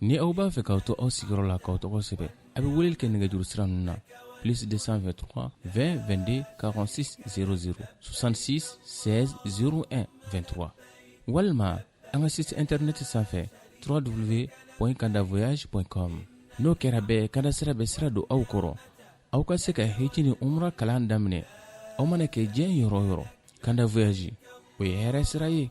ni aw b'a fɛ k'aw to aw sigiyɔrɔ la k'aw tɔgɔ sɛbɛn a bɛ weleli kɛ nɛgɛjuru sira ninnu na plus 223 20 22 46 00 66 16 01 23 walima an ka site internet sanfɛ www.kandavoyage.com n'o kɛra bɛɛ kanda sira bɛ sira don aw kɔrɔ aw ka se ka hiji ni umra kalan daminɛ aw mana kɛ diɲɛ yɔrɔ o yɔrɔ kanda voyage o ye hɛrɛ sira ye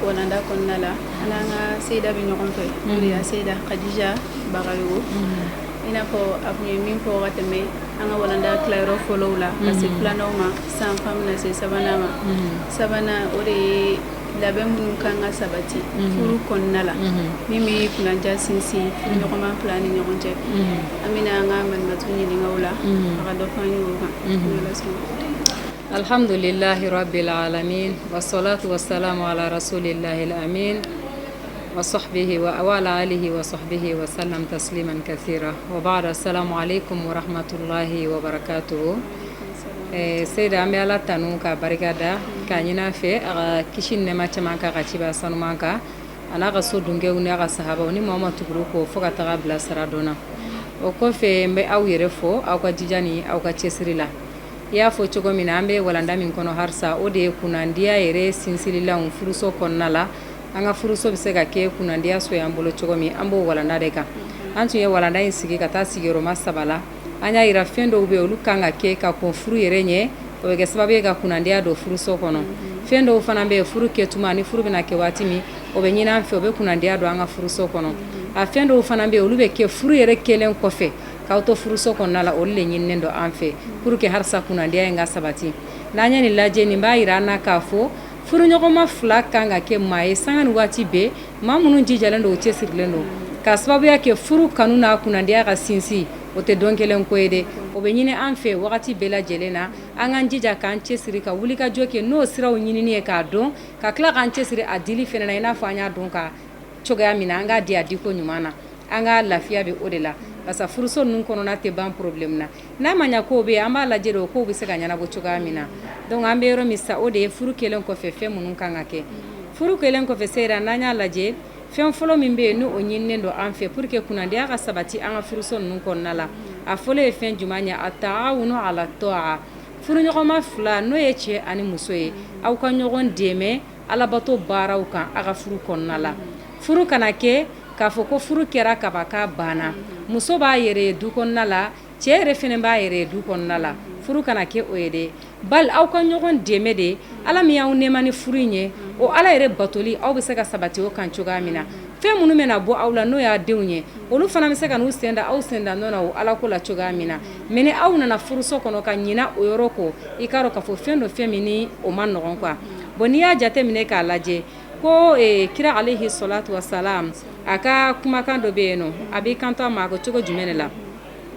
Walanda kɔnɔna la an n'an ka seyida bɛ ɲɔgɔn fɛ n'o de ye seyida kadija bagayogo i n'a fɔ a tun ye min fɔ wagati tɛmɛ an ka walanda tilayɔrɔ fɔlɔ la ka se filanan ma sisan an bɛna se sabanan ma sabanan o de ye labɛn minnu kan ka sabati furu kɔnɔna la min bɛ kunnandiya sinsin ɲɔgɔnma fila ni ɲɔgɔn cɛ an bɛna an ka malimatu ɲininka o la a ka dɔ fɔ an ye o kan Alihamdulilalhi bɛ la ala wasola tu sa maalaraso de layila min waso bɛ waali waso bɛ wa sa bɛ tasiri man ka se o b'a sa ale ko hamatulayi wabara to seyida an bɛ ala tan n ka barika da ka ɲin fɛ a ka kisi nɛma caman kan ka ci sanu kan a n'a ka so dunkɛ n' ka saba ni maa ma tugu kɔ fo ka taga bilasira dɔn o kɔfɛ n bɛ aw yɛrɛ fɔ aw ka dija ni aw ka cɛsiri la I y'a fɔ cogo min na an bɛ walanda min kɔnɔ halisa o de ye kunnandiya yɛrɛ sinsinlan furuso kɔnɔna la an ka furuso bɛ se ka kɛ kunnandiya so ye an bolo cogo min an b'o walanda de kan an tun ye walanda in sigi ka taa sigiyɔrɔma saba la an y'a jira fɛn dɔw bɛ olu kan ka kɛ ka kɔn furu yɛrɛ ɲɛ o bɛ kɛ sababu ye ka kunnandiya don furuso kɔnɔ fɛn dɔw fana bɛ furu kɛ tuma ni furu bɛna kɛ waati min o bɛ ɲini an fɛ o bɛ kunnandiya don an ka furuso kɔnɔ a fɛn dɔw fana bɛ olu bɛ kɛ furu yɛrɛ kɛlen kɔfɛ K'aw to furuso kɔnɔna la olu de ɲininen don an fɛ pour que halisa kunnandiya in ka sabati n'an ye nin lajɛ nin b'a jira an na k'a fɔ furuɲɔgɔnma fila kan ka kɛ maa ye sanga ni waati bɛɛ maa minnu jijalen don u cɛsirilen don ka sababuya kɛ furu kanu n'a kunnandiya ka sinsin o tɛ don kelen ko ye dɛ o bɛ ɲini an fɛ wagati bɛɛ lajɛlen na an k'an jija k'an cɛsiri ka wulikajɔ kɛ n'o siraw ɲinini ye k'a dɔn ka tila k'an cɛsiri a dili fana na i n'a fɔ an y'a dɔn ka cogoya min na an k'a di a diko ɲuman na An ka lafiya bɛ o de la parce que furuso ninnu kɔnɔna tɛ ban problème na n'a ma ɲɛ kow bɛ yen an b'a lajɛ o kow bɛ se ka ɲɛnabɔ cogoya min na donc an bɛ yɔrɔ min sa o de ye furu kɛlen kɔfɛ fɛn minnu kan ka kɛ furu kɛlen kɔfɛ seyida n'an y'a lajɛ fɛn fɔlɔ min bɛ yen n'o ɲinilen don an fɛ pour que kunnandiya ka sabati an ka furuso ninnu kɔnɔna la a fɔlɔ ye fɛn jumɛn ye attaawunu ala taa'a furuɲɔgɔnma fila n'o ye cɛ ani muso ye aw ka ɲɔgɔn dɛmɛ alabato baaraw kan aw ka furu kɔnɔna la furu kana kɛ K'a fɔ ko furu kɛra kaba ka banna muso b'a yɛrɛ ye du kɔnɔna la cɛ yɛrɛ fɛnɛ b'a yɛrɛ ye du kɔnɔna la furu kana kɛ o ye dɛ bali aw ka ɲɔgɔn dɛmɛ de ala min y'aw nɛɛma ni furu in ye o ala yɛrɛ batoli aw bɛ se ka sabati o kan cogoya min na fɛn minnu bɛna bɔ aw la n'o y'a denw ye olu fana bɛ se ka n'u sen da aw sen da nɔ na o ala ko la cogoya min na mais ni aw nana furuso kɔnɔ ka ɲina o yɔrɔ kɔ i k'a dɔn k'a fɔ fɛn dɔ fɛn min ni o man nɔgɔn quoi bon n'i y'a jateminɛ k'a lajɛ ko kira alayhi salatu wasalam a ka kumakan dɔ bɛ yen n'o a b'i kanto a ma ko cogo jumɛn de la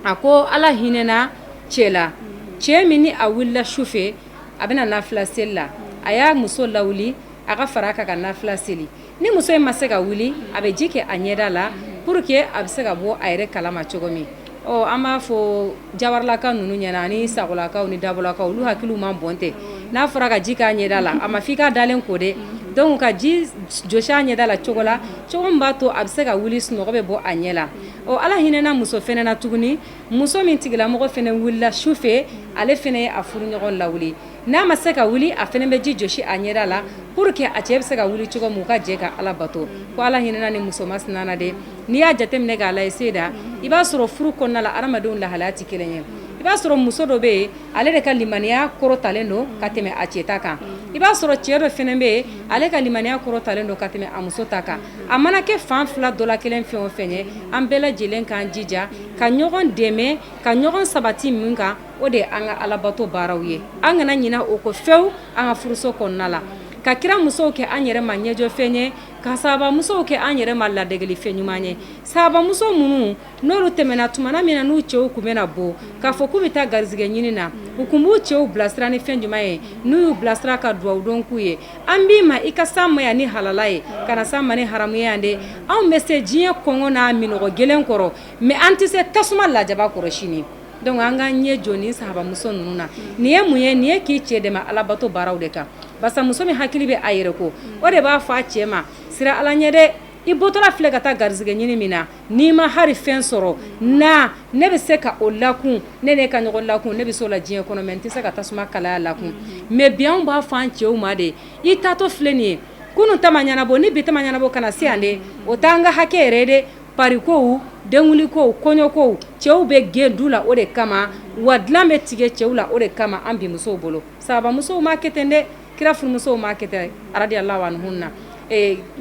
a ko ala hinɛna cɛ la cɛ min ni a wulila su fɛ a bɛna nafila seli la a y'a muso lawuli a ka fara a kan ka nafila seli ni muso in ma se ka wuli a bɛ ji kɛ a ɲɛda la pour que a bɛ se ka bɔ a yɛrɛ kalama cogo min Ɔ an b'a fɔ jawaralaka ninnu ɲɛ na ani sagolakaw ni dabolakaw olu hakiliw man bon ten n'a fɔra ka ji k'a ɲɛda la a ma fɔ i ka dalen ko dɛ donc ka ji jɔsi a ɲɛda la cogo la cogo min b'a to a bɛ se ka wuli sunɔgɔ bɛ bɔ a ɲɛ la ɔ ala hinɛna muso fɛnɛ na tuguni muso min tigilamɔgɔ fɛnɛ wulila su fɛ ale fɛnɛ ye a furuɲɔgɔn lawuli N'a ma se ka wuli a fɛnɛ bɛ ji jɔsi a ɲɛda la pour que a cɛ bɛ se ka wuli cogo min u ka jɛ ka Ala bato ko Ala hinɛna nin muso masina na dɛ n'i y'a jateminɛ k'a lajɛ Seyida i b'a sɔrɔ furu kɔnɔna la hadamadenw lahalaya tɛ kelen ye i b'a sɔrɔ muso dɔ bɛ yen ale de ka limaniya kɔrɔtalen don ka tɛmɛ a cɛ ta kan i b'a sɔrɔ cɛ dɔ fɛnɛ bɛ yen ale ka limaniya kɔrɔtalen don ka tɛmɛ a muso ta kan a mana kɛ fan fila dɔ la kelen fɛn o fɛn ye an bɛɛ lajɛlen k'an jija ka ɲɔgɔn dɛmɛ ka ɲɔgɔn sabati min kan o de ye an ka alabato baaraw ye an kana ɲina o kɔ fewu an ka furuso kɔnɔna la ka kira musow kɛ an yɛrɛ ma ɲɛjɔfɛn ye ka sahaba musow kɛ an yɛrɛ ma ladegelifɛn ɲuman ye sahaba muso minnu n'olu tɛmɛna tumana min na n'u cɛw kun bɛna bɔ k'a fɔ k'u bɛ taa garizigɛ ɲini na u kun b'u cɛw bilasira ni fɛn ɲuman ye n'u y'u bilasira ka dugawu don k'u ye an b'i ma i ka s'an ma yan ni halala ye kana s'an ma ni haramu ye yan dɛ anw bɛ se diɲɛ kɔngɔ n'a minnɔgɔ gɛlɛn kɔrɔ mais an tɛ se tasuma lajaba kɔrɔ sini Donc an ka ɲɛ jɔ ni sahaba muso ninnu na nin ye mun ye nin ye k'i cɛ dɛmɛ alabato baaraw de kan barisa muso min hakili bɛ a yɛrɛ ko o de b'a fɔ a cɛ ma siran ala ɲɛ dɛ i bɔtɔla filɛ ka taa garizigɛ ɲini min na n'i ma hali fɛn sɔrɔ na ne bɛ se ka o lakun ne ka ɲɔgɔn lakun ne bɛ se o la diɲɛ kɔnɔ mais n tɛ se ka tasuma kalaya lakun mais bi an b'a fɔ an cɛw ma de i taatɔ filɛ nin ye kunun ta ma ɲɛnabɔ ni bi ta ma ɲɛnabɔ kana se yan dɛ o t'an ka hakɛ yɛrɛ de Parikow denwulikow kɔɲɔkow cɛw bɛ gɛn du la o de kama wa dilan bɛ tigɛ cɛw la o de kama an bi musow bolo sahaba musow ma kɛ ten dɛ kira furumusow ma kɛ ten radiyallahu anhunna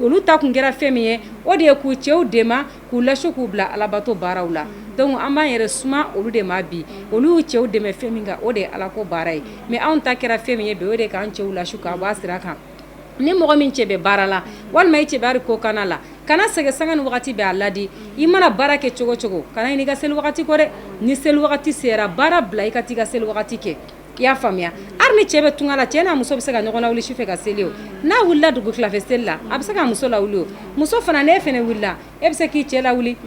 olu ta kun kɛra fɛn min ye o de ye k'u cɛw dɛmɛ k'u lasu k'u bila alabato baaraw la donc an b'an yɛrɛ suma olu de ma bi olu y'u cɛw dɛmɛ fɛn min kan o de ye ala ko baara ye mais anw ta kɛra fɛn min ye bi o de k'an cɛw lasu ka b'a sira kan ni mɔgɔ min cɛ bɛ baara la walima i cɛ bɛ hali kɔkanna la kana sɛgɛn sanga ni wagati bɛɛ a laadi i mana baara kɛ cogo cogo kana ɲinɛ i ka seli wagati kɔ dɛ ni seli wagati sera baara bila i ka t'i ka seli wagati kɛ i y'a faamuya hali ni cɛ bɛ tunga la cɛ n'a muso bɛ se ka ɲɔgɔn lawuli su fɛ ka seli o n'a wulila dugu tilafɛ seli la a bɛ se ka muso lawuli o muso fana n'e fana wulila E bɛ se k'i cɛ lawuli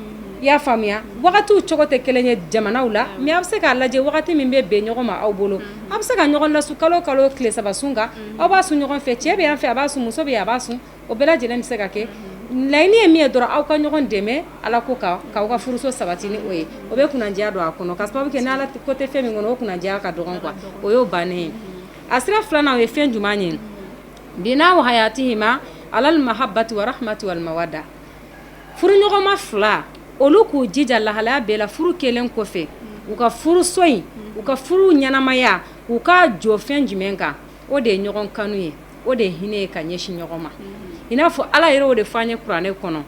i y'a faamuya wagatiw cogo tɛ kelen ye jamanaw la mais aw bɛ se k'a lajɛ wagati min bɛ bɛn ɲɔgɔn ma aw bolo aw bɛ se ka ɲɔgɔn lasu kalo kalo tile saba sun kan aw b'a sun ɲɔgɔn fɛ cɛ bɛ yan fɛ a b'a sun muso bɛ a b'a sun o bɛɛ lajɛlen bɛ se ka kɛ laɲini ye min ye dɔrɔn aw ka ɲɔgɔn dɛmɛ ala ko kan k'aw ka furuso sabati ni o ye o bɛ kunnadiya don a kɔnɔ ka sababu kɛ n'ala ko tɛ fɛn min kɔnɔ o kunnadiya ka dɔgɔn quoi o y'o bannen ye a sira filanan ye fɛn jumɛn ye bina wa hayatihima alal mahabbati wa rahmati wal mawadda furuɲɔgɔnma fila olu k'u jija lahalaya bɛɛ la furu kɛlen kɔfɛ u ka furuso in u ka furu ɲɛnamaya u k'a jɔ fɛn jumɛn kan o de ye ɲɔgɔn kanu ye o de ye hinɛ ye ka ɲɛsin ɲɔgɔn ma i n'a fɔ ala yɛrɛ o de fɔ an ye kuranɛ kɔnɔ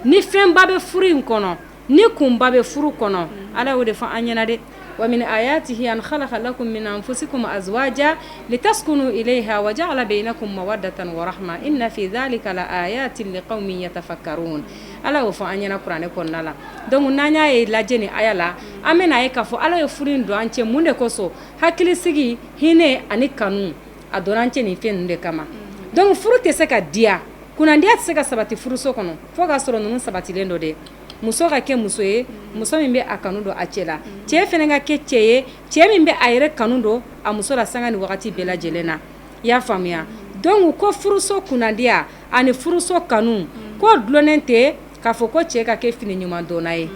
ni fɛnba bɛ furu in kɔnɔ ni kunba bɛ furu kɔnɔ ala y'o de fɔ an ɲɛna dɛ wa min ayatihi an khalaqa lakum min anfusikum azwaja litaskunu ilayha wa ja'ala bainakum mawaddatan wa rahma inna fi dhalika la ayatin liqaumin yatafakkarun ala y'o fɔ an ɲɛna kuranɛ kɔnɔna la donc n'an y'a ye lajɛ nin aya la an bɛna a ye k'a fɔ ala ye furu in don an cɛ mun de kosɔn hakili sigi hinɛ ani kanu a donna an cɛ nin fɛn ninnu de kama donc furu tɛ se ka diya kunnadiya tɛ se ka sabati furuso kɔnɔ fo k'a sɔrɔ ninnu sabatilen don dɛ muso ka kɛ muso ye muso min bɛ a kanu don a cɛ la cɛ fana ka kɛ cɛ ye cɛ min bɛ a yɛrɛ kanu don a muso la sanga ni wagati bɛɛ lajɛlen na i y'a faamuya donc ko furuso kunnadiya ani furuso kanu k'o dulonnen tɛ k'a fɔ ko cɛ ka kɛ fini ɲuman donna ye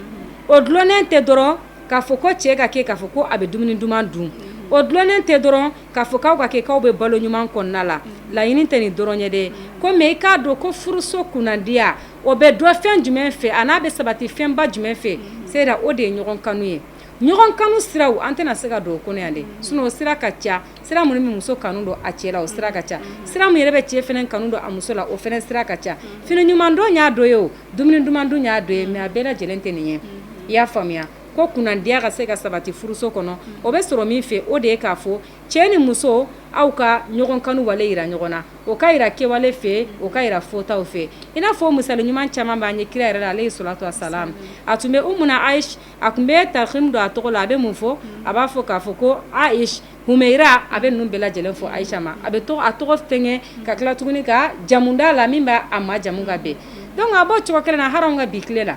o dulonnen tɛ dɔrɔn k'a fɔ ko cɛ ka kɛ k'a fɔ ko a bɛ dumuni duman dun o dulonnen tɛ dɔrɔn K'a fɔ k'aw ka kɛ k'aw bɛ balo ɲuman kɔnɔna la laɲini tɛ nin dɔrɔn ye dɛ ko mais i k'a dɔn ko furuso kunnadiya o bɛ don fɛn jumɛn fɛ an'a bɛ sabati fɛnba jumɛn fɛ se o de ye ɲɔgɔn kanu ye ɲɔgɔn kanu siraw an tɛna se ka don o kɔnɔ yan dɛ sinon o sira ka ca sira minnu bɛ muso kanu don a cɛ la o sira ka ca sira min yɛrɛ bɛ cɛ fana kanu don a muso la o fana sira ka ca fini ɲuman don y'a dɔ ye o dumuni duman dun y'a dɔ ye mais a bɛɛ lajɛlen tɛ nin ye i y'a faamuya ko kunnadiya ka se ka sabati furuso kɔnɔ o bɛ sɔrɔ min fɛ o de ye k'a fɔ cɛ ni muso aw ka ɲɔgɔn kanu wale yira ɲɔgɔn na o ka yira kɛwale fɛ o ka yira fɔtaw fɛ i n'a fɔ misali ɲuman caman b'an ye kira yɛrɛ la alayhi salatu wassalam a tun bɛ umuna aish a tun bɛ tarhimu don a tɔgɔ la a bɛ mun fɔ a b'a fɔ k'a fɔ ko aish Humeira a bɛ ninnu bɛɛ lajɛlen fɔ Aisha ma a bɛ a tɔgɔ fɛnkɛ ka tila tuguni ka jamu d'a la min b'a a ma jamu ka bɛn donc a b'o cogo kelen na hali an ka bi tile la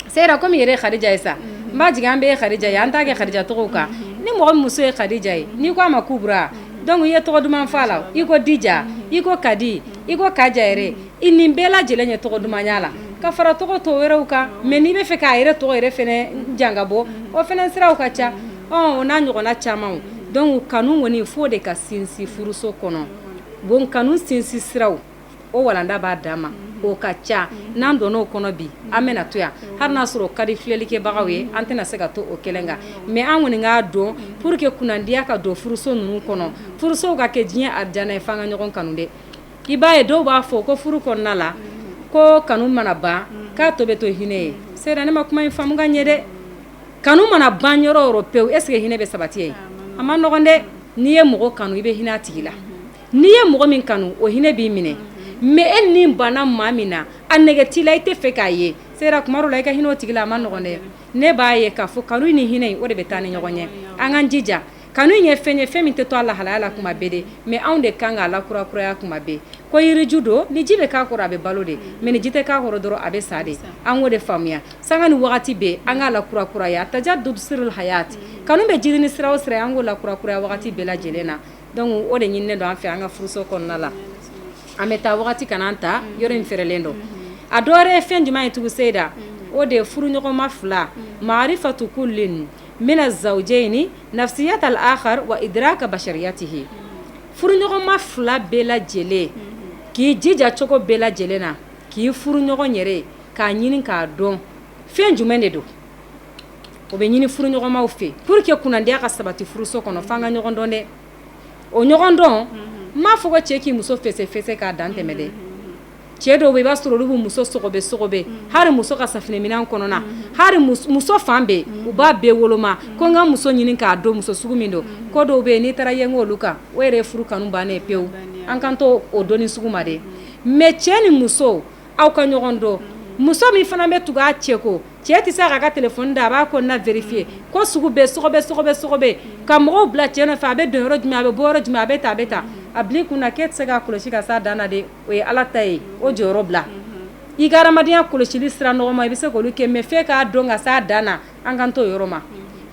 Seyda kɔmi i yɛrɛ ye Kadija ye sa n b'a jigi an bɛɛ ye Kadija ye an t'a kɛ Kadija tɔgɔ kan ni mɔgɔ muso ye Kadija ye n'i ko a ma Kubra donc i ye tɔgɔ duman fɔ a la i ko Dija i ko Kadi i ko Kaja yɛrɛ nin bɛɛ lajɛlen ye tɔgɔ dumanya la ka fara tɔgɔ tɔw wɛrɛw kan mais n'i bɛ fɛ k'a yɛrɛ tɔgɔ yɛrɛ fɛnɛ jan ka bɔ o fɛnɛ siraw ka ca O n'a ɲɔgɔnna caman donc kanu kɔni fo de ka sinsin furuso kɔnɔ bon kanu sinsin siraw o walanda b'a danma o ka ca n'an donna o kɔnɔ bi an bɛna to yan hali n'a sɔrɔ o ka di filɛlikɛbagaw ye an tɛna se ka to o kelen kan mais an kɔni k'a dɔn pour que kunandiya ka don furuso ninnu kɔnɔ furusow ka kɛ diɲɛ arijana ye f'an ka ɲɔgɔn kanu dɛ i b'a ye dɔw b'a fɔ ko furu kɔnɔna la ko kanu mana ban k'a tɔ bɛ to hinɛ ye Seyda ne ma kuma in faamu ka ɲɛ dɛ kanu mana ban yɔrɔ o yɔrɔ pewu est ce que hinɛ bɛ sabati yen? A ma nɔgɔn dɛ, n'i ye mɔgɔ kanu i bɛ hinɛ a tigi la, n'i ye mɔgɔ min kanu o hinɛ b'i minɛ mais e ni banna maa min na a nege t'i la i tɛ fɛ k'a ye Seyda tuma dɔw la i ka hinɛ o tigi la a ma nɔgɔn dɛ, ne b'a ye k'a fɔ kanu ni hinɛ o de bɛ taa ni ɲɔgɔn ye an k'an jija Kanu ye fɛn ye fɛn min tɛ to a lahalaya la tuma bɛɛ dɛ mais anw de kan k'a lakurakuraya tuma bɛɛ ko yiriju don ni ji bɛ k'a kɔrɔ a bɛ balo de mais ni ji tɛ k'a kɔrɔ dɔrɔn a bɛ sa de an k'o de faamuya sanga ni wagati bɛɛ an k'a lakurakuraya tajaddud sirul hayaat kanu bɛ jiidi ni sira o sira an k'o lakurakuraya wagati bɛɛ lajɛlen na donc o de ɲininen don an fɛ an ka furuso kɔnɔna la an bɛ taa wagati kana an ta yɔrɔ in fɛrɛlen don a dɔwɛrɛ ye fɛn jumɛn ye tugu Seyda o de ye furuɲɔgɔnma fila maarifatu kullin mina zawjaini nafsiyatal aakhar wa idraaka bashariyatihi furuɲɔgɔnma fila bɛɛ lajɛlen k'i jija cogo bɛɛ lajɛlen na k'i furuɲɔgɔn yɛrɛ k'a ɲini k'a dɔn fɛn jumɛn de don o bɛ ɲini furuɲɔgɔnmaw fɛ pour que kunandiya ka sabati furuso kɔnɔ fo an ka ɲɔgɔn dɔn dɛ o ɲɔgɔn dɔn n m'a fɔ ko cɛ k'i muso fɛsɛfɛsɛ k'a dantɛmɛ dɛ cɛ dɔw bɛ i b'a sɔrɔ olu bɛ muso sɔgɔbɛ sɔgɔbɛ hali muso ka safinɛminɛn kɔnɔna hali muso fan bɛɛ u b'a bɛɛ woloma ko n ka muso ɲini k'a dɔn muso sugu min don ko dɔw bɛ n'i taara yɛlɛn olu kan o yɛrɛ furu kanu bannen pewu an kan to o dɔnni sugu ma dɛ mais cɛ ni muso aw ka ɲɔgɔn dɔn muso min fana bɛ tugu a cɛ kɔ cɛ tɛ se k'a ka telefɔni da a b'a kɔnɔna vérifier ko sugu bɛɛ sɔgɔbɛ ka mɔgɔw bila cɛ nɔfɛ a bɛ don yɔrɔ jumɛn a bɛ bɔ yɔrɔ jumɛn a bɛ tan a bila i kun na k'e tɛ se k'a kɔlɔsi ka s'a dan na dɛ o ye ala ta ye o jɔyɔrɔ bila i ka adamadenya kɔlɔsili sira nɔgɔma i bɛ se k'olu kɛ mais f'e k'a dɔn ka s'a dan na an kan t'o yɔrɔ ma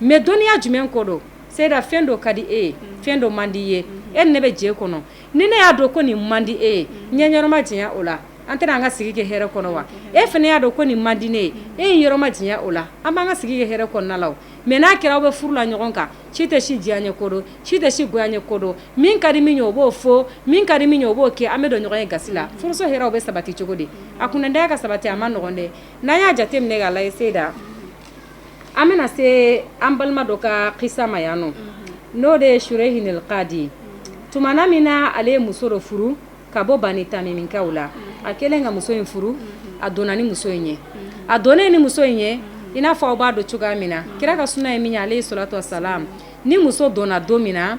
mais dɔnniya jumɛn ko don Seyda fɛn dɔ ka di e ye fɛn dɔ man di i ye e ni ne bɛ jɛ kɔnɔ ni ne y'a dɔn ko nin man di e ye n y'i yɔrɔ majanya o la an tɛna an ka sigi kɛ hɛrɛ kɔnɔ wa e fana y'a dɔn ko nin man di ne ye e y'i yɔrɔ majanya o la an b'an ka sigi kɛ hɛrɛ kɔnɔna la mais n'a kɛra aw bɛ furu la ɲɔgɔn kan si tɛ si diyanyeko dɔn si tɛ si goyanyeko dɔn min ka di min ye o b'o fɔ min ka di min ye o b'o kɛ an bɛ don ɲɔgɔn ye gasi la furuso hɛrɛ o bɛ sabati cogo di a kunnandiya ka sabati a man nɔgɔn dɛ n'an y'a jate minɛ k'a lajɛ seyida an bɛna se an balima dɔ ka kisa ma yan nɔ n'o de ye Surehinil Kadi tuma min na ale ye muso dɔ furu ka bɔ Bani Tamiminkaw la a kɛlen ka muso in furu a donna ni muso in ye a donnen ni muso in ye i n'a fɔ aw b'a dɔn cogoya min na kira ka suna ye min ye alayihi salatu wa salam ni muso donna don min na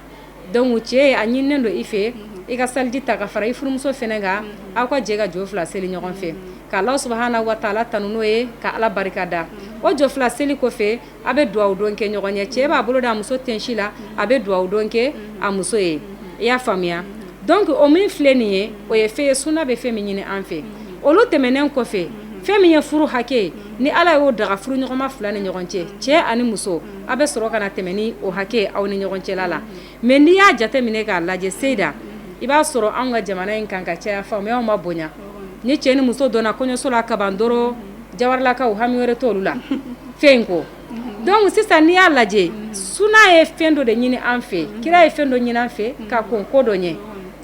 donc cɛ ye a ɲininen don i fɛ i ka saliji ta ka fara i furumuso fɛnɛ kan aw ka jɛ ka jɔ fila seli ɲɔgɔn fɛ ka Alahu subuhanahu wa taala tanu n'o ye ka ala barika da o jɔ fila seli kɔfɛ A bɛ dugawu don kɛ ɲɔgɔn ye cɛ b'a bolo da a muso tensi la a bɛ dugawu don kɛ a muso ye i y'a faamuya donc o min filɛ nin ye o ye fɛn ye suna bɛ fɛn min ɲini an fɛ olu tɛmɛnen kɔfɛ fɛn min ye furu hakɛ ye ni ala y'o daga furuɲɔgɔnma fila ni ɲɔgɔn cɛ cɛ ani muso aw bɛ sɔrɔ ka na tɛmɛn ni o hakɛ aw ni ɲɔgɔn cɛ la Mais n'i y'a jate minɛ k'a lajɛ seyida i b'a sɔrɔ an ka jamana in kan ka caya faamuya ma bonya ni cɛ ni muso donna kɔɲɔso la ka ban dɔrɔn jawarilakaw hami wɛrɛ t'olu la fɛn in ko donc sisan n'i y'a lajɛ suna ye fɛn dɔ de ɲini an fɛ kira ye fɛn dɔ ɲini an fɛ ka kɔn ko dɔ ɲɛ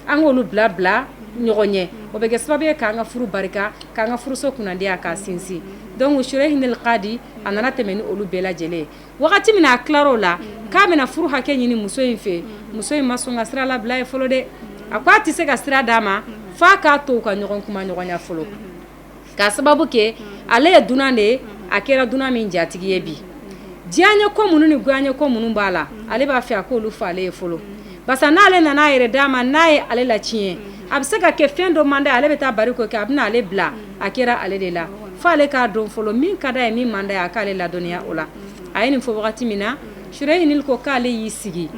an k'olu bila bila ɲɔgɔn ɲɛ o bɛ kɛ sababu ye k'an ka furu barika k'an ka furuso kunnandiya ka sinsin donc Surehinil Kadi a nana tɛmɛ ni olu bɛɛ lajɛlen ye wagati min a tilar'o la k'a bɛna furu hakɛ ɲini muso in fɛ muso in ma sɔn ka sira labil'a ye fɔlɔ dɛ a ko a tɛ se ka sira d'a ma f'a k'a to u ka ɲɔgɔn kumaɲɔgɔnya fɔlɔ k'a sababu kɛ ale ye dunan de ye a kɛra dunan min jatigi ye bi diyanyeko minnu ni goyanyeko minnu b'a la ale b'a fɛ a k'olu fɔ ale ye fɔlɔ barisa n'ale nana a yɛrɛ d'a ma n'a ye ale la tiɲɛ a bɛ se ka kɛ fɛn dɔ man d'a ye ale bɛ taa bari k'o kɛ a bɛna ale bila a kɛra ale de la fo ale k'a dɔn fɔlɔ min ka d'a ye min man d'a ye a k'ale ladɔnniya o la a ye nin fɔ wagati min na Surehinil ko k'ale y'i sigi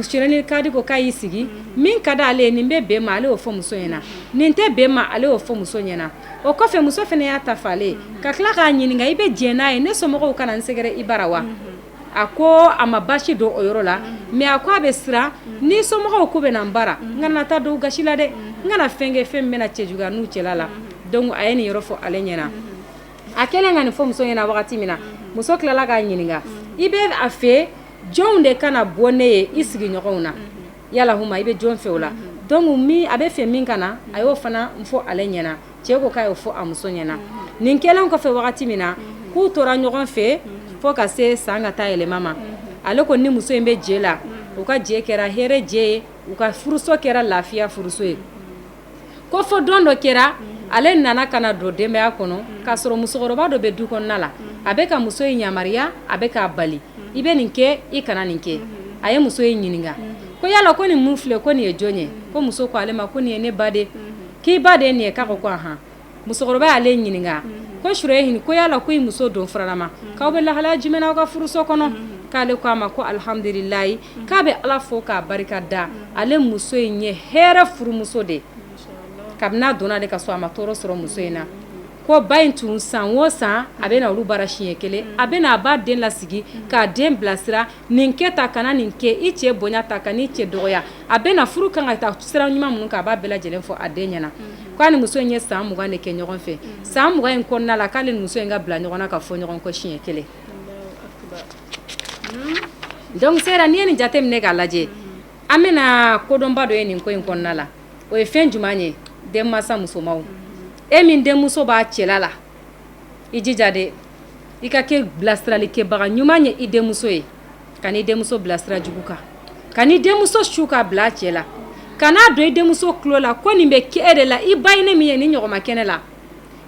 Surehinil Kadi ko k'a y'i sigi min ka di ale ye nin bɛ bɛn ma ale y'o fɔ muso ɲɛna nin tɛ bɛn ma ale y'o fɔ muso ɲɛna o kɔfɛ muso fana y'a ta f'ale ye ka tila k'a ɲininka i bɛ diɲɛ n'a ye ne somɔgɔw ka na n sɛgɛrɛ i bara wa A ko a ma basi don o yɔrɔ la mais a ko a bɛ siran ni somɔgɔw k'u bɛ na n bara n kana na taa don u gasi la dɛ n kana fɛn kɛ fɛn min bɛna cɛjuguya n'u cɛla la donc a ye nin yɔrɔ fɔ ale ɲɛna a kɛlen ka nin fɔ muso ɲɛna wagati min na muso tilala k'a ɲininka i bɛ a fɛ jɔnw de ka na bɔ ne ye i sigiɲɔgɔnw na yala i bɛ jɔn fɛ o la donc min a bɛ fɛ min ka na a y'o fana fɔ ale ɲɛna cɛ ko k'a y'o fɔ a muso ɲɛna nin kɛlen kɔfɛ wagati min na k'u tora ɲɔgɔn fɛ fo ka se san ka taa yɛlɛma ma ale ko ni muso in bɛ jɛ la u ka jɛ kɛra hɛrɛ jɛ ye u ka furuso kɛra lafiya furuso ye ko fo don dɔ kɛra ale nana ka na don denbaya kɔnɔ k'a sɔrɔ musokɔrɔba dɔ bɛ du kɔnɔna la a bɛ ka muso in yamariya a bɛ k'a bali i bɛ nin kɛ i kana nin kɛ a ye muso in ɲininka ko yala ko nin mun filɛ ko nin ye jɔn ye ko muso ko ale ma ko nin ye ne ba de k'i ba de nin ye k'a ko ko ahan musokɔrɔba y'ale ɲininka ko sureyihi ko yala ko i muso don faralama k'aw bɛ lahalaya jumɛn na aw ka furuso kɔnɔ k'ale ko a ma ko alihamdulilahi k'a bɛ ala fo k'a barika da ale muso in ye hɛrɛ furumuso de kabini a donna ale ka so a ma tɔɔrɔ sɔrɔ muso in na ko ba in tun san o san a bɛ na olu bara siɲɛ kelen a bɛ na a b'a den lasigi k'a den bilasira nin kɛ tan kana nin kɛ i cɛ bonya tan kan'i cɛ dɔgɔya a bɛ na furu kan ka taa sira ɲuman minnu kan a b'a bɛɛ lajɛlen fɔ a den ɲɛna k'a ni muso in ye san mugan de kɛ ɲɔgɔn fɛ san mugan in kɔnɔna la k'ale ni muso in ka bila ɲɔgɔn na ka fɔ ɲɔgɔn kɔ siɲɛ kelen donc sera n'i ye nin jate minɛ k'a lajɛ an bɛna kodɔnba dɔ ye nin ko in kɔnɔna la o ye fɛn jumɛn ye den mansa musomanw e min denmuso b'a cɛla la i jija dɛ i ka kɛ bilasiralikɛbaga ɲuman ye i denmuso ye kan'i denmuso bila sira jugu kan kan'i denmuso su k'a bila a cɛ la kan'a don i denmuso tulo la ko nin bɛ kɛ e de la i ba ye ne min ye nin ɲɔgɔn ma kɛ ne la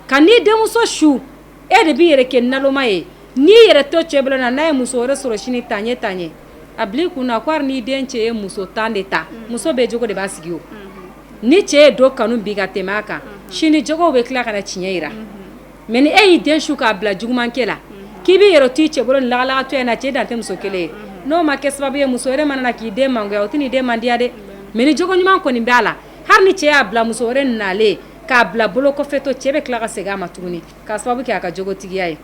kan'i denmuso su e de b'i yɛrɛ kɛ naloma ye n'i yɛrɛ to cɛ bolo na n'a ye muso wɛrɛ sɔrɔ sini tan ɲɛ tan ɲɛ a bila i kun na ko hali n'i den cɛ ye muso tan de ta muso bɛɛ jogo de b'a sigi o ni cɛ ye dɔ kanu bi ka tɛmɛ a kan sini jogow bɛ tila ka na tiɲɛ jira mɛ ni e y'i den su k'a bila jugumankɛ la k'i b'i yɛrɛ to i cɛ bolo nin lagalagatɔya in na cɛ dan tɛ muso kelen ye n'o ma kɛ sababu ye muso wɛrɛ mana na k'i den mangoya o tɛn'i den mandiya dɛ mɛ ni jogo ɲuman kɔni b'a la hali ni cɛ y'a bila muso wɛrɛ nalen k'a bila bolo kɔfɛtɔ cɛ bɛ tila ka segin a ma tuguni k'a sababu kɛ a ka jogotigiya ye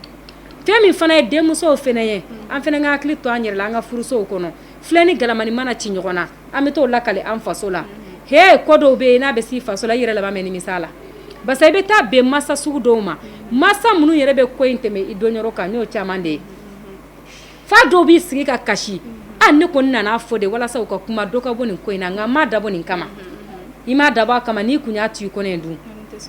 fɛn min fana ye denmusow fana ye an fana ka hakili to an yɛrɛ la an ka furusow kɔnɔ filen ni galamanin mana ci ɲɔgɔn na an bɛ t'o lakali an faso la he ko dɔw bɛ yen n'a bɛ s'i faso la i yɛrɛ laban bɛ nimisa la parce i bɛ taa bɛn mansa sugu dɔw ma mansa minnu yɛrɛ bɛ ko in tɛmɛ i dɔn yɔrɔ kan n'o caman de ye fa dɔw b'i sigi ka kasi an ne kɔni nana a fɔ de walasa u ka kuma dɔ ka bɔ nin ko in na nka n m'a dabɔ nin kama i m'a dabɔ a kama n'i kun y'a to i kɔnɔ dun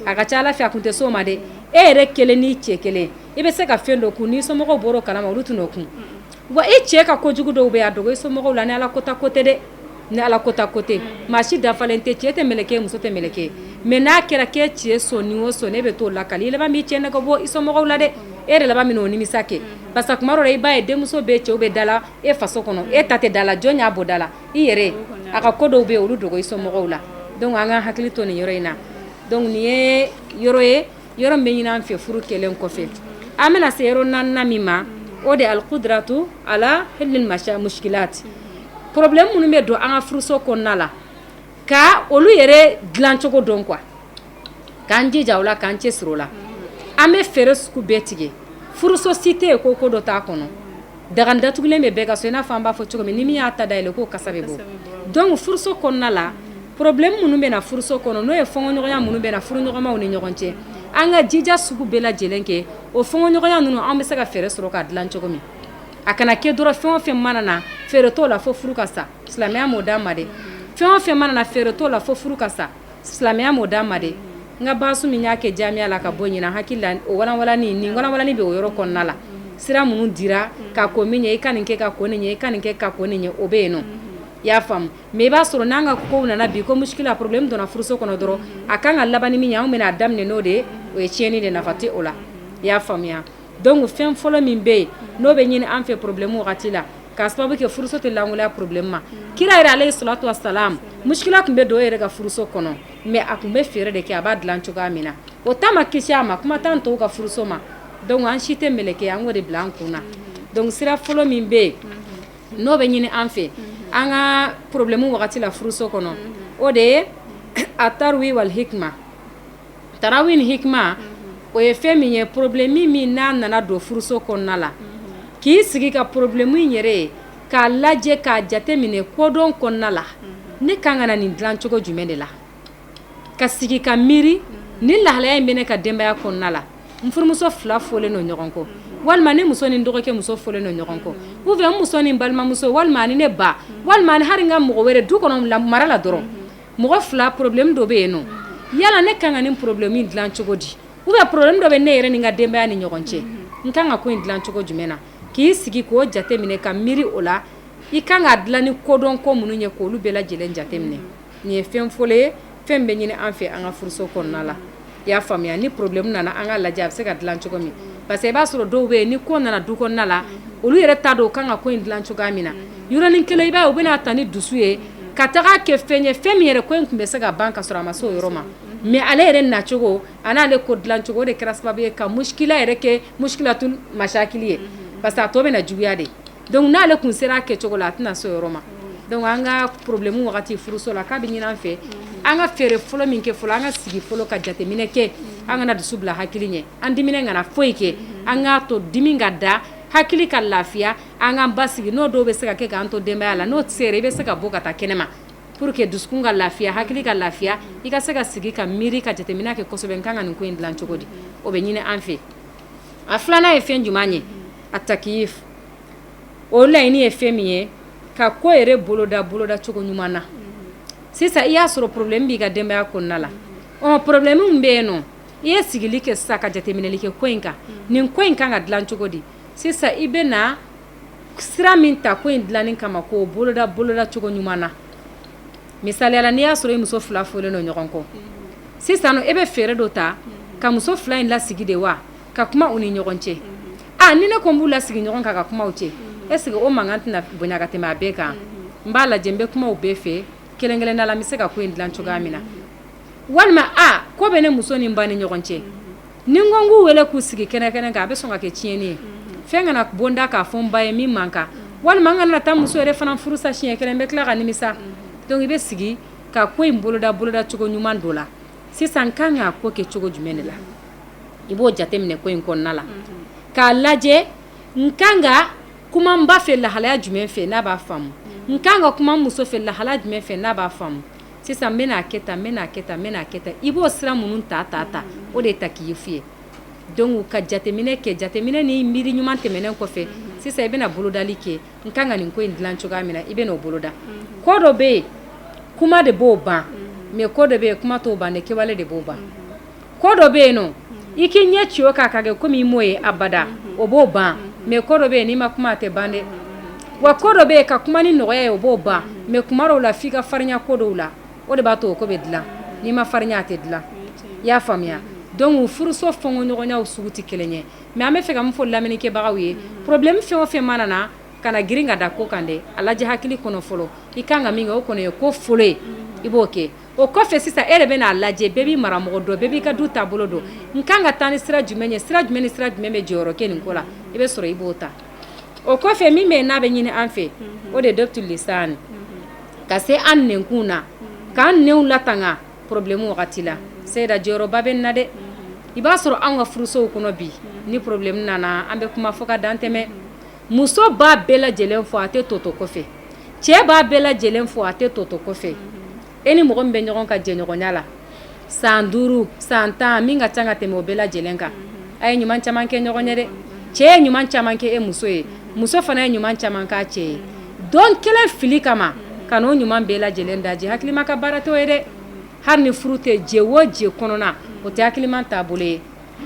a ka ca ala fɛ a kun tɛ s'o ma dɛ e yɛrɛ kelen n'i cɛ kelen i bɛ se ka fɛn dɔ kun n'i somɔgɔw bɔra o kalama olu t'o kun wa i cɛ ka ko jugu dɔw bɛ yen a dogo i somɔgɔw la ni ala kota ko tɛ dɛ ni ala kota ko tɛ maa si dafalen tɛ cɛ tɛ mɛlɛkɛ muso tɛ mɛlɛkɛ mais n'a kɛra k'e cɛ sɔn o sɔn e bɛ t'o lakali i laban b'i cɛ nɛgɛ bɔ i somɔgɔw la dɛ e yɛrɛ laban bɛ n'o nimisa kɛ parce que tuma dɔ la i b'a ye denmuso bɛɛ cɛw bɛ da la e faso kɔnɔ e ta tɛ da la jɔn y'a bɔ da la i yɛrɛ a ka ko dɔw bɛ yen olu dogo i somɔgɔw la donc an ka hakili to nin yɔrɔ in na donc nin ye yɔrɔ ye yɔrɔ bɛ ɲini an fɛ furu kɛlen kɔfɛ an bɛna se yɔrɔ naaninan min ma o de alqudratu ala hallil muskilati problème minnu bɛ don an ka furuso kɔnɔna la ka olu yɛrɛ dilancogo dɔn quoi k'an jija o la k'an cɛ siri o la an bɛ fɛɛrɛ sugu bɛɛ tigɛ furuso si tɛ yen ko ko dɔ t'a kɔnɔ Daga datugulen bɛ bɛɛ ka so i n'a fɔ an b'a fɔ cogo min ni min y'a ta da yɛlɛ k'o kasa bɛ bɔ donc furuso kɔnɔna la problème minnu bɛ na furuso kɔnɔ n'o ye fɔnkɔɲɔgɔnya minnu bɛ na furuɲɔgɔnmaw ni ɲɔgɔn cɛ an ka jija sugu bɛɛ lajɛlen kɛ o fɔnkɔɲɔgɔnya ninnu an bɛ se ka fɛɛrɛ sɔrɔ k'a dilan cogo min a kana kɛ dɔrɔn fɛn o fɛn mana na fɛɛrɛ t'o la fo furu ka sa silamɛya m'o d'an ma dɛ fɛn o fɛn mana na fɛɛrɛ t'o la fo furu ka sa silamɛya m'o d'an ma dɛ, n ka baasu min y'a kɛ jaamiya la ka bɔ ɲinan n hakili la o walanwalanni nin walanwalanni bɛ o yɔrɔ kɔnɔna la sira minnu dira ka kɔn min ɲɛ i ka nin kɛ ka kɔn nin ɲɛ i ka nin kɛ ka kɔn nin ɲɛ o bɛ yen nɔ i y'a faamu mais i b'a sɔrɔ n'an ka kow nana bi ko muskila problème donna furuso kɔnɔ dɔrɔn a kan ka laban ni min ye anw bɛna a daminɛ n'o de ye o ye tiɲɛni de nafa tɛ o la i y'a faamuya Donc fɛn fɔlɔ min bɛ yen n'o bɛ ɲini an fɛ problème wagati la k'a sababu kɛ furuso tɛ lankolonya problème ma kira yɛrɛ alayhi salatu wasalam muskila tun bɛ don o yɛrɛ ka furuso kɔnɔ mais a tun bɛ fɛɛrɛ de kɛ a b'a dilan cogoya min na o ta ma kisi a ma kuma t'an tɔw ka furuso ma donc an si tɛ mɛlɛkɛ an k'o de bila an kun na donc sira fɔlɔ min bɛ yen n'o bɛ ɲini an fɛ an ka problème wagati la furuso kɔnɔ o de ye atarawi wal hikma tarawi ni hikma o ye fɛn min ye problème min min n'a nana don furuso kɔnɔna la k'i sigi ka problème in yɛrɛ ye k'a lajɛ k'a jate minɛ kodɔn kɔnɔna la ne kan ka na nin dilancogo jumɛn de la ka sigi ka miiri ni lahalaya in bɛ ne ka denbaya kɔnɔna la n furumuso fila fɔlen don ɲɔgɔn kɔ walima ne muso ni n dɔgɔkɛ muso fɔlen don ɲɔgɔn kɔ ou bien n muso ni n balimamuso walima ni ne ba walima ni hali n ka mɔgɔ wɛrɛ du kɔnɔ mara la dɔrɔn mɔgɔ fila problème dɔ bɛ yen nɔ yala ne kan ka nin problème in dilan cogo di ou bien problème dɔ bɛ ne yɛrɛ ni n ka denbaya ni ɲɔgɔn cɛ n kan ka ko in dilan cogo jumɛn na k'i sigi k'o jateminɛ ka miiri o la i kan k'a dilan ni kodɔn ko minnu ye k'olu bɛɛ lajɛlen jateminɛ nin ye fɛn fɔlɔ ye fɛn bɛ ɲini an fɛ an ka furuso kɔnɔna la I y'a faamuya ni problème nana an k'a lajɛ a bɛ se ka dilan cogo min parce que i b'a sɔrɔ dɔw bɛ yen ni ko nana du kɔnɔna la olu yɛrɛ t'a dɔn u kan ka ko in dilan cogoya min na yɔrɔnin kelen i b'a ye u bɛna ta ni dusu ye ka taga kɛ fɛn ye fɛn min yɛrɛ ko in tun bɛ se ka ban ka sɔrɔ a ma se o yɔrɔ ma mais ale yɛrɛ nacogo a n'ale ko dilancogo o de kɛra sababu ye ka muskila yɛrɛ kɛ muskilatul masakili ye parce que a tɔ bɛna juguya de Donc n'ale kun sera a kɛcogo la a tɛna s'o yɔrɔ ma donc an ka problème wagati furuso la k'a bɛ ɲini an fɛ an ka fɛɛrɛ fɔlɔ min kɛ fɔlɔ an ka sigi fɔlɔ ka jateminɛ kɛ an kana dusu bila hakili ɲɛ an diminen kana foyi kɛ an k'a to dimi ka da hakili ka lafiya an k'an basigi n'o dɔw bɛ se ka kɛ k'an to denbaya la n'o sera i bɛ se ka bɔ ka taa kɛnɛma pour que dusukun ka lafiya hakili ka lafiya i ka se ka sigi ka miiri ka jateminɛ kɛ kosɛbɛ n kan ka nin ko in dilan cogo di o bɛ ɲini an fɛ a filanan ye fɛn jumɛn ye a takiyif o laɲini ye fɛn min ye ka ko yɛrɛ boloda boloda cogo ɲuman na sisan i y'a sɔrɔ problème b'i ka denbaya kɔnɔna la ɔ problème min bɛ yen nɔ i ye sigili kɛ sisan ka jateminɛli kɛ ko in kan nin ko in kan ka dilan cogo di sisan i bɛna sira min ta ko in dilanni kama k'o boloda boloda cogo ɲuman na misaliya la n'i y'a sɔrɔ i muso fila fɔlen don ɲɔgɔn kɔ sisan e bɛ fɛɛrɛ dɔ ta ka muso fila in lasigi de wa ka kuma u ni ɲɔgɔn cɛ a ni ne ko n b'u lasigi ɲɔgɔn kan ka kuma u cɛ est-ce que o mankan tɛna bonya ka tɛmɛ a bɛɛ kan n b'a lajɛ n bɛ kuma u bɛɛ fɛ kelen kelenna la n bɛ se ka ko in dilan cogoya min na walima ko bɛ ne muso ni n ba ni ɲɔgɔn cɛ Ni n ko n k'u wele k'u sigi kɛnɛ kɛnɛ kan a bɛ sɔn ka kɛ tiɲɛni ye fɛn kana bɔ n da k'a fɔ n ba ye min man kan walima n kana taa muso yɛrɛ fana furu sa siɲɛ kelen n bɛ tila ka nimisa donc i bɛ sigi ka ko in boloda boloda cogo ɲuman dɔ la sisan n ka kan k'a ko kɛ cogo jumɛn de la i b'o jateminɛ ko in kɔnɔna la k'a lajɛ n ka kan ka kuma n ba fɛ lahalaya jumɛn fɛ n'a b'a faamu n ka kan ka kuma n muso fɛ lahalaya jumɛn fɛ n'a b'a faamu sisan n bɛna kɛ tan n bɛna kɛ tan n bɛna kɛ tan i b'o sira minnu ta ta ta o de ye takiyifu ye donc ka jateminɛ kɛ jateminɛ ni miiri ɲuman tɛmɛnen kɔfɛ sisan i bɛna bolodali kɛ n ka kan ka nin ko in dilan cogoya min na i bɛn'o boloda ko dɔ bɛ yen kuma de b'o ban mais ko dɔ bɛ yen kuma t'o ban dɛ kɛwale de b'o ban ko dɔ bɛ yen nɔ i k'i ɲɛ ci o kan ka kɛ comme i m'o ye abada o b'o ban mais ko dɔ bɛ yen n'i ma kuma a tɛ ban dɛ wa ko dɔ bɛ yen ka kuma ni nɔgɔya ye o b'o ban mais kuma dɔw la f'i ka farinya ko dɔw la o de b'a to o ko bɛ dilan n'i ma farinya a tɛ dilan i y'a faamuya donc furuso fɔnkɔɲɔgɔnyaw sugu tɛ kelen ye mais an b'a fɛ ka min fɔ lamɛnnikɛbagaw ye problème fɛn o fɛn mana na kana girin ka da ko kan dɛ a lajɛ hakili kɔnɔ fɔlɔ i ka kan ka min kɛ o kɔni ye ko fɔlɔ ye i b'o kɛ o kɔfɛ sisan e de bɛn'a lajɛ bɛɛ b'i maramɔgɔ dɔn bɛɛ b'i ka du taabolo dɔn n ka kan ka taa ni sira jumɛn ye sira jumɛn ni sira jumɛn bɛ jɔyɔrɔ kɛ nin ko la i bɛ sɔrɔ i b'o ta o kɔfɛ min bɛ yen n'a bɛ ɲini an fɛ o de ye dɔbtul lisani ka se an nɛnkun na k'an nɛnw latanga problème wagati la seyida jɔyɔrɔba bɛ nin na dɛ i b'a sɔrɔ an ka furusow kɔnɔ bi ni problème nana an bɛ kuma fɔ ka dantɛmɛ muso b'a bɛɛ lajɛlen fɔ a tɛ tɔ to kɔfɛ cɛ b'a bɛɛ lajɛlen fɔ a tɛ tɔ to kɔfɛ e ni mɔgɔ min bɛ ɲɔgɔn ka jɛɲɔgɔnya la san duuru san tan min ka ca ka tɛmɛ o bɛɛ lajɛlen kan a ye ɲuman caman kɛ ɲɔgɔn ye dɛ cɛ ye ɲuman caman kɛ e muso ye muso fana ye ɲuman caman k'a cɛ ye don kelen fili kama ka n'o ɲuman bɛɛ lajɛlen daji hakilima ka baara t'o ye dɛ hali ni furu tɛ jɛ o jɛ kɔnɔna o tɛ hakilima taabolo ye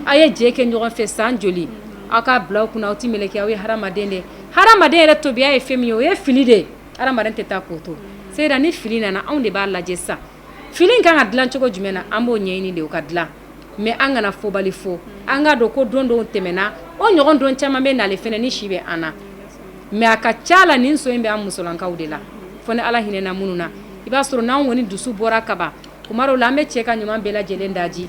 Aw ye jɛ kɛ ɲɔgɔn fɛ san joli aw k'a bila aw kunna aw tɛ mɛlɛkɛ aw ye hadamaden de hadamaden yɛrɛ tabiya ye fɛn min ye o ye fili de hadamaden tɛ taa k'o to c'est-à-dire ni fili nana anw de b'a lajɛ sa fili kan ka dila cogo jumɛn na an b'o ɲɛɲini de o ka dila mais an kana fɔbali fo an k'a dɔn ko don dɔw tɛmɛna o ɲɔgɔn don caman bɛ nale fɛnɛ ni si bɛ an na mais a ka ca la nin sɔn in bɛ an musolankaw de la fo ni ala hinɛna minnu na i b'a sɔrɔ n'an kɔni dusu bɔra kaban Kuma dɔw la an bɛ cɛ ka ɲuman bɛɛ lajɛlen daji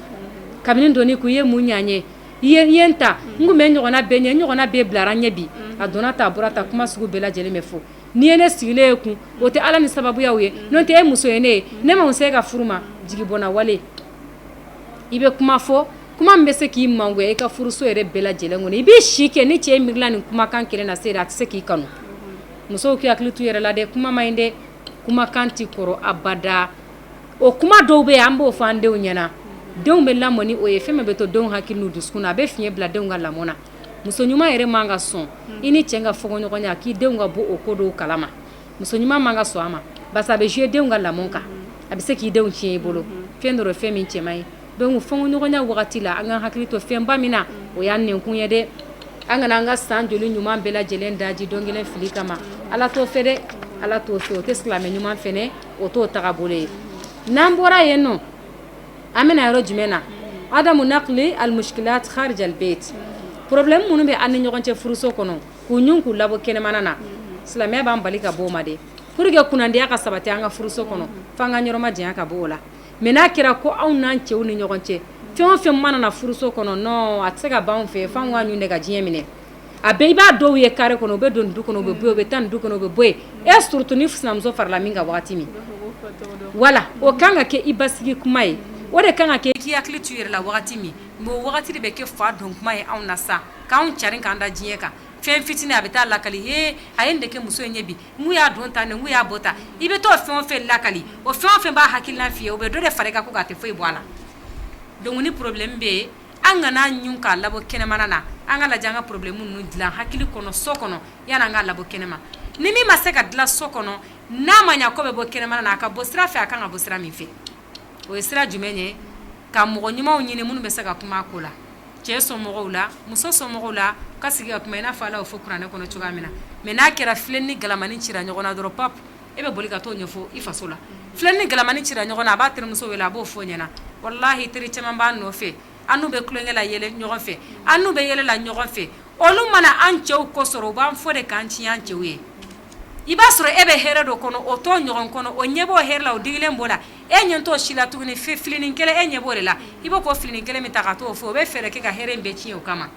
kabini don k'i ye mun ɲa n ye i ye n ta n bɛ ɲɔgɔnna bɛɛ ɲɛ n ɲɔgɔnna bɛɛ bilara ɲɛ bi a donna ta a bɔra ta kuma sugu bɛɛ lajɛlen bɛ fɔ n'i ye ne sigilen ye kun o tɛ ala ni sababuya ye n'o tɛ e muso ye ne ye ne ma se e ka furu ma jigi bɛ n na wali i bɛ kuma fɔ kuma min bɛ se k'i mangoya i ka furuso yɛrɛ bɛɛ lajɛlen kɔnɔ i b'i si kɛ ni cɛ miirila nin kumakan kelen na se a tɛ se k'i kanu musow k'i hakili t'i yɛrɛ la dɛ kuma man ɲi dɛ kumakan tɛ kɔrɔ abada o kuma dɔw bɛ yen an b'o fɔ an denw ɲɛna denw bɛ lamɔ ni o ye fɛn min bɛ to denw hakili n'u dusukun na a bɛ fiɲɛ bila denw ka lamɔ na muso ɲuman yɛrɛ man ka sɔn i ni cɛ ka fɔɲɔgɔnya k'i denw ka bɔ o ko dɔw kala ma muso ɲuman man ka sɔn a ma barisa a bɛ jouer denw ka lamɔ kan a bɛ se k'i denw tiɲɛ i bolo fɛn don fɛn min cɛ man ɲi donc fɔɲɔgɔnya wagati la an ka hakili to fɛnba min na o y'an nɛnkun ye dɛ an kana an ka san joli ɲuman bɛɛ lajɛlen daji don kelen fili kama ala t'o fɛ dɛ ala t'o fɛ o tɛ silamɛ ɲuman fɛ O t'o tagabolo ye n'an bɔra yen nɔ an bɛna yɔrɔ jumɛn na adamu naqli almushkilat kharij albayt problème minnu bɛ an ni ɲɔgɔn cɛ furuso kɔnɔ k'u ɲun k'u labɔ kɛnɛmana na silamɛya b'an bali ka bɔ o ma de pour que kunnandiya ka sabati an ka furuso kɔnɔ f'an k'an yɔrɔ majanya ka bɔ o la mais n'a kɛra ko anw n'an cɛw ni ɲɔgɔn cɛ fɛn o fɛn mana na furuso kɔnɔ non a tɛ se ka ban an fɛ f'an k'a ɲun de ka diɲɛ minɛ a bɛɛ i b'an dɔw ye carré kɔnɔ u bɛ don du kɔnɔ u bɛ bɔ yen u bɛ taa du kɔnɔ u bɛ bɔ yen et surtout ni sinamuso farala min kan waati min voilà o kan ka kɛ i basigi kuma ye o de kan ka kɛ k'i hakili to i yɛrɛ la waati min mais o wagati de bɛ kɛ fa don kuma ye anw na sa k'an carin k'an da diɲɛ kan fɛn fitinin a bɛ taa lakali he a ye nin de kɛ muso in ye bi n'u y'a don ta n'u y'a bɔ ta i bɛ t'o fɛn o fɛn lakali o fɛn o fɛn b'a hakilina f'i ye o bɛ dɔ de fara i kan k'o tɛ foyi bɔ a la donc problème bɛ yen an kan'a ɲun k'a labɔ kɛnɛmana na, an k'a lajɛ an ka problème ninnu dilan hakili kɔnɔ so kɔnɔ yani an k'a labɔ kɛnɛma, ni min ma se ka dilan so kɔnɔ, n'a ma ɲɛ k'o bɛ bɔ kɛnɛmana na, a ka bɔ sira fɛ, a ka kan ka bɔ sira min fɛ, o ye sira jumɛn ye? ka mɔgɔ ɲumanw ɲini minnu bɛ se ka kuma a ko la, cɛ somɔgɔw la, muso somɔgɔw la, ka sigi ka kuma i n'a fɔ Ala y'o fɔ kuranɛ kɔnɔ cogoya min na mais n'a kɛra filen ni galamani cira ɲɔgɔn na dɔrɔn pap e bɛ boli ka t'o ɲɛfɔ i faso la filen ni galamani cira ɲɔgɔn na a b'a terimuso wele a b'o fɔ ɲɛna wallahi teri caman b'an nɔfɛ an n'u bɛ tulonkɛ la yɛlɛ ɲɔgɔn fɛ an n'u bɛ yɛlɛ la ɲɔgɔn fɛ olu mana an cɛw kɔ sɔrɔ u b'an fɔ de k'an tiɲɛ an cɛw ye i b'a sɔrɔ e bɛ hɛrɛ dɔ kɔnɔ o t'o ɲɔgɔn kɔnɔ o ɲɛ b'o hɛrɛ la o digilen b'o la e ɲɛ t'o si la tuguni filinin kelen e ɲɛ b'o de la i b'o ko filinin kelen min ta ka t'o fɔ o bɛ fɛɛrɛ kɛ ka hɛrɛ in bɛɛ tiɲɛ o kama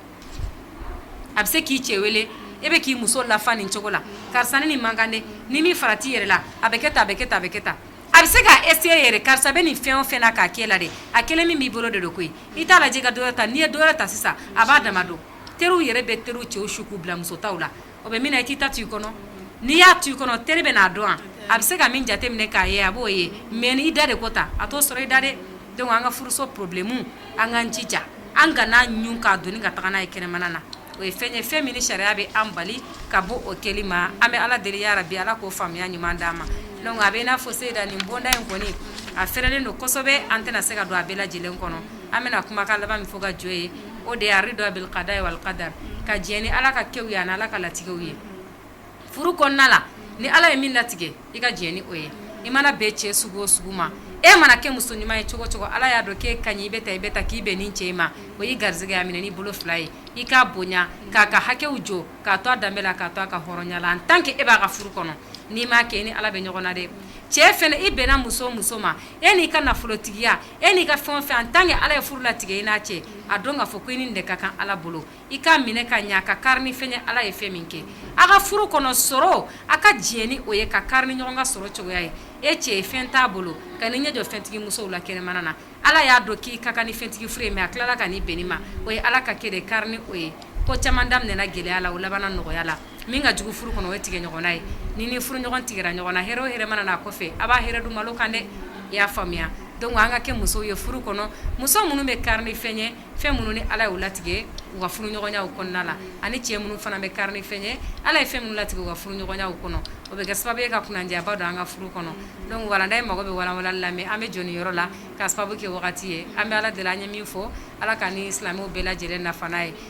a bɛ se k'i cɛ wele e bɛ k'i muso lafa nin cogo la karisa ni nin man kan dɛ n'i m'i farati i yɛrɛ la a bɛ kɛ tan a bɛ kɛ tan a bɛ kɛ tan a bɛ se k'a essayer yɛrɛ karisa bɛ nin fɛn o fɛn na k'a kɛ la de a kelen min b'i bolo de don koyi i t'a lajɛ ka dɔ wɛrɛ ta n'i ye dɔ wɛrɛ ta sisan a b'a dama dɔn teriw yɛrɛ bɛ teri cɛw su k'u bila musotaw la O bɛ min na i t'i ta to i kɔnɔ n'i y'a to i kɔnɔ teri bɛ n'a dɔn a bɛ se ka min jate minɛ k'a ye a b'o ye mais n'i da de ko ta a t'o sɔrɔ i da dɛ donc an ka furuso problème an k'an jija an kan'a ɲun k'a doni ka taa n'a ye kɛnɛmana na o ye fɛn ye fɛn min ni sariya bɛ an bali ka bɔ o kɛli ma an bɛ ala deli ya rabi ala k'o faamuya ɲuman d'an ma donc a bɛ i n'a fɔ seyida nin bonda in kɔni a fɛrɛlen don kosɛbɛ an tɛna se ka don a bɛɛ lajɛlen kɔnɔ an bɛna kumakan laban min fɔ ka jɔ yen o de ye arida bil qada wal qadar ka jɛn ni ala ka kɛw ye ani ala ka latigɛw ye furu kɔnɔna la ni ala ye min latigɛ i ka jɛn ni o ye i mana bɛn cɛ sugu o sugu ma e mana kɛ muso ɲuman ye cogo o cogo ala y'a dɔn k'e ka ɲi i bɛ taa i bɛ taa k'i bɛn nin cɛ ma o y'i garijɛgɛ a minɛ n'i bolo fila ye i k'a bonya k'a ka hakɛw jɔ k'a to a danbe la k'a to a ka hɔrɔnya la en tant que e b'a ka furu kɔnɔ n'i m'a kɛ i ni ala bɛ ɲɔgɔn na dɛ cɛ fana i bɛnna muso o muso ma e n'i ka nafolotigiya e n'i ka fɛn o fɛn en tant que ala ye furu latigɛ i n'a cɛ a dɔn k'a fɔ ko i ni nin de ka kan ala bolo i k'a minɛ ka ɲɛ ka kari ni fɛn ye ala ye fɛn min kɛ a ka furu kɔnɔ sɔrɔ a ka diɲɛ ni o ye ka kari ni ɲɔgɔn ka sɔrɔ cogoya ye e cɛ ye fɛn t'a bolo kan'i ɲɛ jɔ fɛntigi musow la kɛnɛmana na ala y'a dɔn k'i ka kan ni fɛntigi furu ye mais a tilala ka n'i bɛn nin ma o ye ala ka kɛ de kari ni o ye ko caman daminɛna gɛlɛya la o labanna nɔgɔya la min ka jugu furu kɔnɔ o ye tigɛ ɲɔgɔnna ye ni ni furu ɲɔgɔn tigɛra ɲɔgɔn na hɛrɛ o hɛrɛ mana n'a kɔfɛ a b'a hɛrɛ dun malo kan dɛ i y'a faamuya donc an ka kɛ musow ye furu kɔnɔ muso minnu bɛ kari ni fɛn ye fɛn minnu ni ala y'u latigɛ u ka furu ɲɔgɔnyaw kɔnɔna la ani cɛ minnu fana bɛ kari ni fɛn ye ala ye fɛn minnu latigɛ u ka furu ɲɔgɔnyaw kɔnɔ o bɛ kɛ sababu ye ka kunnandiyaba don an ka furu kɔnɔ donc walanda ye mago bɛ walawalali la mais an bɛ jɔ nin yɔrɔ la ka sababu kɛ wagati ye an bɛ ala deli an ye min fɔ ala k'an ni silamɛw bɛɛ lajɛlen nafa n'a ye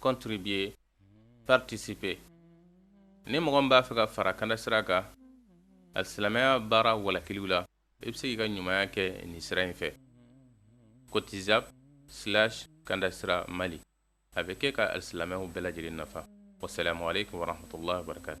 contribuer participer ni mɔgɔ min b'a fɛ ka fara kanda sira kan alisilamɛya baara walakiliw la i bɛ se k'i ka ɲumanya kɛ nin sira in fɛ cotizup slash kanda sira mali a bɛ kɛ ka alisilamɛw bɛɛ lajɛlen nafa wasalamu aleykum warahmatullahi wabarakatu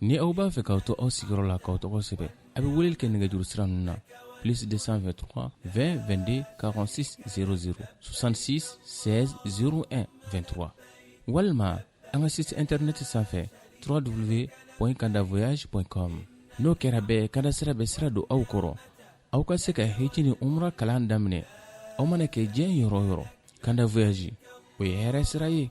ni aw b'a fɛ k'aw to aw sigiyɔrɔ la k'aw tɔgɔ sɛbɛn a bɛ weleli kɛ nɛgɛjuru sira ninnu na plus 223 20 22 46 00 66 16 01 23 walima an ka site internet sanfɛ www.kandavoyage.com n'o kɛra bɛɛ kanda sira bɛ sira don aw kɔrɔ aw ka se ka hiji ni umra kalan daminɛ aw mana kɛ diɲɛ yɔrɔ o yɔrɔ kanda voyage o ye hɛrɛ sira ye